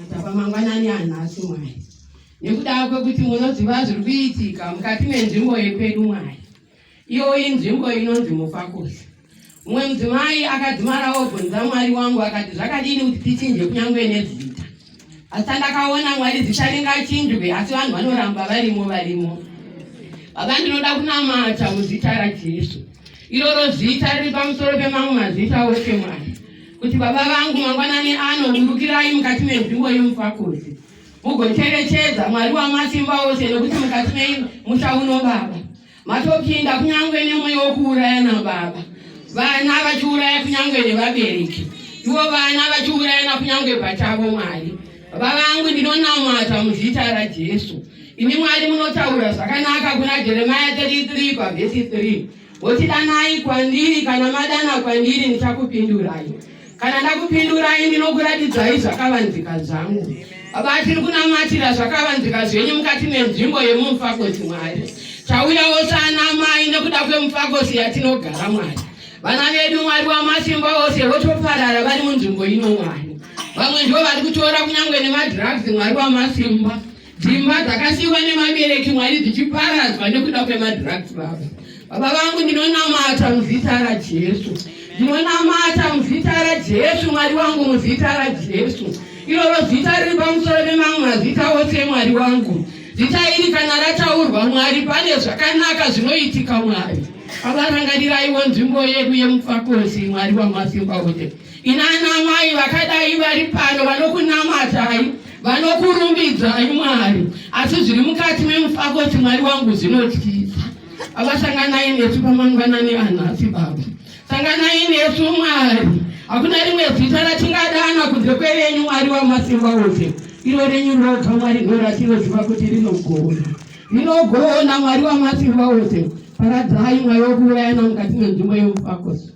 atapa mangwanani anhasi mwari nekudava kwekuti munoziva zviri kuitika mukati menzvimbo yekwedu mwari iyo inzvimbo inonzi mufakusi mumwe mudzimai akadzimara obvunza mwari wangu akati zvakadini kuti tichinje kunyange nezita asi tandakaona mwari zita ringachinjwe asi vanhu vanoramba varimo varimo baba ndinoda kunamata muzita rajesu iroro zita riri pamusoro pemamwe mazita ose mwari kuti baba vangu mangwanani ano burukirai mukati menzvimbo yemufakozi mugocherechedza mwari wamasimba ose nokuti mukati mei musha uno baba matopinda kunyange nemweya wokuuraya nababa vana vachiuraya kunyange nevabereki ivo vana vachiuraya nakunyange pachavo mwari baba vangu ndinonamata muzita rajesu imi mwari munotaura zvakanaka kuna jeremaya 33 pavhesi 3 Woti danai kwandiri, kana madana kwandiri ndichakupindurai. Kana ndakupindurai ndinokuratidzai zvakavanzika zvangu. Baba tiri kunamatira zvakavanzika zvenyu mukati menzvimbo yemumufakosi Mwari. Tauyawo saanamai nekuda kwemufakosi yatinogara Mwari. Vana vedu Mwari wamasimba ose votoparara vari munzvimbo ino Mwari. Vamwe ndivo vari kutora kunyange nemadrugs Mwari wamasimba. Dzimba dzakasiiwa nemabereki mwari dzichiparadzwa nekuda kwemadrugs baba. Baba vangu ndinonamata muzita raJesu. Ndinonamata muzita raJesu mwari wangu muzita raJesu. Iroro zita riri pamusoro pemamwe mazita ose mwari wangu. Zita iri kana rataurwa mwari pane zvakanaka zvinoitika mwari. Baba rangariraiwo nzvimbo yedu yemufakosi mwari wamasimba ose. Inana mai vakadai vari pano vanokunamatai vanokurumbidzai mwari asi zviri mukati memufakoti mwari wangu zvinotyisa avasanganai nesu pamangwanani anhasi baba sanganai nesu mwari hakuna rimwe zita ratingadana kunze kwerenyu mwari wamasimba ose iro renyu roga mwari ndo ratinoziva kuti rinogona rinogona mwari wamasimba ose paradzai mwayo kuurayana mukati menzvimbo yemufakosi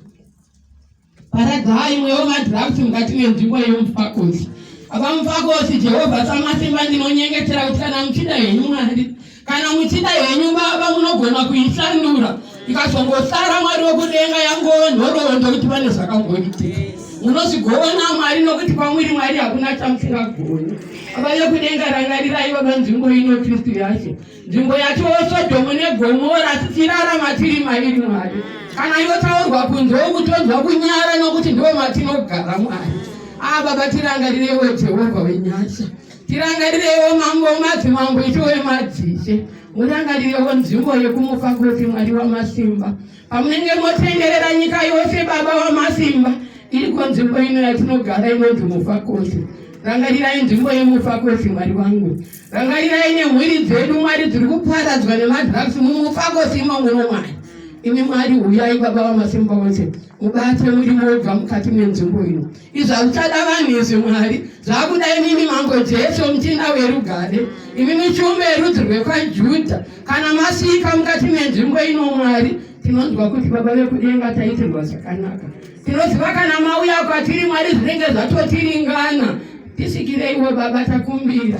Paradzai imwe yomadhirafti mukati menzvimbo yemufakosi. Apa mufakosi, Jehovha Samasimba, ndinonyengetera kuti kana muchida henyu Mwari, kana muchida henyu Baba, munogona kuisandura ikazongosara Mwari wekudenga yangova nhoroondo kuti pane zvakamboitika munozvigovana Mwari nokuti kwamuri Mwari hakuna chamusingagoni. Baba vekudenga, rangarirai Baba nzvimbo ino Kristu yacho nzvimbo yatiwo sodhomu negomora tichirarama tiri mairi mwari kana yotaurwa kunze wokutonzwa kunyara nokuti ndiwo matinogara mwari aa ah, baba tirangarirewo jehovha wenyasha tirangarirewo mambo madzimambo itiwe madzishe murangarirewo nzvimbo yekumufa kuti mwari wamasimba pamunenge motenderera nyika yose baba wamasimba iriko nzvimbo ino yatinogara inonzi mufa kuti rangarirai nzvimbo yemufa kuti mwari wangu Rangarirai nemhuri dzedu Mwari dziri kuparadzwa nemadrugs mumufako simo muno Mwari. Imi Mwari huyai baba vamasimba ose mubate murimo wobva mukati menzvimbo ino. Izvi hazvichada vanhu izvi Mwari zvakuda imimi mambo Jesu muchinda werugare imi michumbe yerudzi rwekwaJudha kana masvika mukati menzvimbo ino Mwari tinonzwa kuti baba vekudenga taitirwa zvakanaka. Tinoziva kana mauya kwatiri Mwari zvinenge zvatotiringana. Tisvikireiwo Baba takumbira.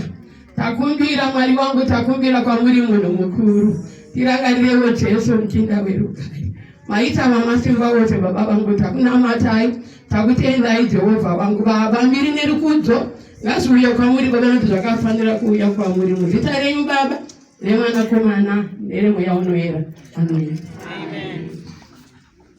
Takumbira Mwari wangu takumbira kwamuri munhu mukuru. Tirangarirewo Jesu muchinda werugare. Maita vamasimba vose Baba vangu takunamatai takutendai Jehovha wangu Baba mbiri nerukudzo ngazviuye kwamuri Baba nokuti zvakafanira kuuya kwamuri muzita renyu Baba remwanakomana neremweya unoyera ameni. Amen.